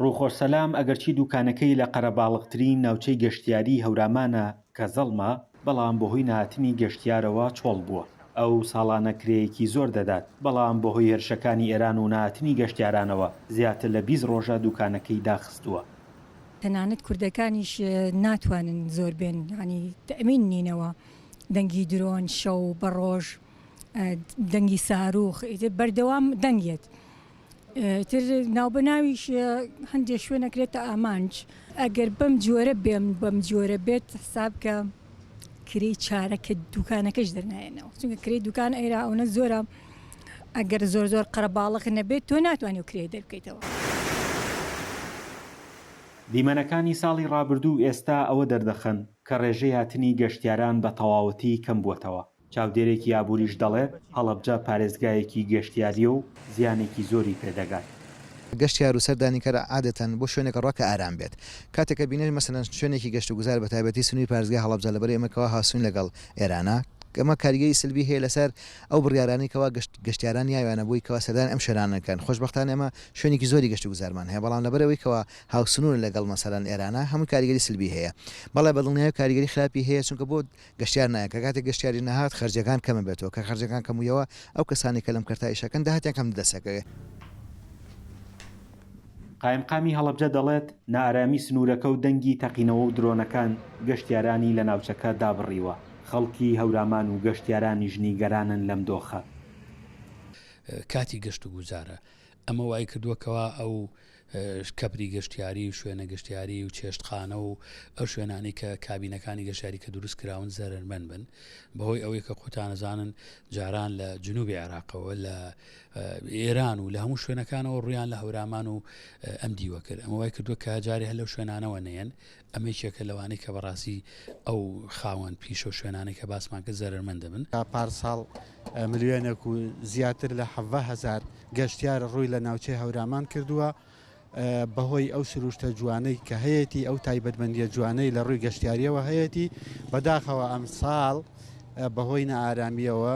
ڕووخۆش سەلام، ئەگەرچی دووکانەکەی لە قەرەباڵغترین ناوچەی گەشتیاریی هەورامانە کە زەڵمە، بەڵام بەهۆی نەهاتنی گەشتیارەوە چۆڵ بووە. ئەو ساڵانە کرێیەکی زۆر دەدات، بەڵام بەهۆی هێرشەکانی ئێران و نەهاتنی گەشتیارانەوە زیاتر لە بیست ڕۆژە دووکانەکەی داخستووە. تەنانەت کوردەکانیش ناتوانن زۆر بێن، یانی تەئمین نینەوە. دەنگی درۆن شەو بە ڕۆژ، دەنگی سارووخ ئیتر بەردەوام دەنگ یەت. ئیتر ناوبەناویش هەندێک شوێن ئەکرێتە ئامانج ئەگەر بەم جۆرە بێم بەم جۆرە بێت حساب کە کرێی چارەکە دوکانەکەش دەرنایەنەوە چونکە کرێی دوکان ئێرا ئەوە زۆرە ئەگەر زۆر زۆر قەرەباڵق نەبێت تۆ ناتوانانی و کرێ دەرکەیتەوە. دیمەنەکانی ساڵی ڕابردوو و ئێستا ئەوە دەردەخەن کە ڕێژەی هاتنی گەشتیاران بە تەواوەتی کەمبووەتەوە. چاودێرێکی ئابووریش دەڵێت، هەڵەبجە پارێزگایەکی گەشتیارییە و زیانێکی زۆری پێدەگات. گەشتیار و سەردانیکەر عادەتەن بۆ شوێنێک ڕۆ کە ئارام بێت. کاتێک کە بینەر مەسەلەن شوێنێکی گەشتوگوزار بەتایبەتی سنووری پارێزگای هەڵەبجە لەبەرەی ئەمە کەوا هاوسنوورین لەگەڵ ئێرانە، ئەمە کاریگەری سەلبی هەیە لەسەر ئەو بڕیارانەی کەوا گەشتیاران نیاویانە بۆی کەوا سەردانی ئەم شوێنانە نەکەن. خۆشبەختانە ئێمە شوێنێکی زۆری گەشتوگوزارمان هەیە، بەڵام لەبەرئەوەی کەوا هاوسنوورە لەگەڵ مەسەلەن ئێرانە هەمووی کاریگەری سەلبی هەیە. بەڵێ بەدڵنیایی کاریگەری خراپی هەیە چونکە بۆ گەشتیار نایەن، کە کاتێک گەشتیاری نەهات خەرجیەکان کەم ئەبێتەوە، کە خەرجیەکان کەم ویەوە ئەو کەسانەی کە لەم کەرتە ئیشەکەن داهاتیان کەم دەست ئەکەوێ. قایمقامی هەڵەبجە دەڵێت، نائارامی سنوورەکە و دەنگی تەقینەوە و درۆنەکان گەشتیارانی لە ناوچەکە دابڕیوە، خەڵکی هەورامان و گەشتیارانیش نیگەرانن لەم دۆخە. کاتی گەشت و گوزارە. ئەمە وای کردووە کەوا ئەو کەپری گەشتیاری و شوێنە گەشتیاری و چێشتخانە و ئەو شوێنانی کە کابینەکانی گەشاری کە دروست کراون زەرمەن بن بەهۆی ئەوەی کە قوتانەزانن جاران لە جنوبی عێراقەوە لە ئێران و لە هەموو شوێنەکانەوە ڕویان لە هەورامان و ئەم دیوە کرد ئەمە وای کردووە کە جارێ هەر لەو شوێنانەوە نێن ئەمە یەکێکە لەوانەی کە بەڕاستی ئەو خاوەن پیشە و شوێنانەی کە باسمان کرد زەرەرمەند دەبن. تا پارساڵ ملیۆنێک و زیاتر لە حەڤە هەزار گەشتیار ڕووی لە ناوچەی هەورامان کردووە، بەهۆی ئەو سروشتە جوانەی کە هەیەتی، ئەو تایبەتمەندییە جوانەی لە ڕووی گەشتیارییەوە هەیەتی، بەداخەوە ئەمساڵ بەهۆی نائارامییەوە،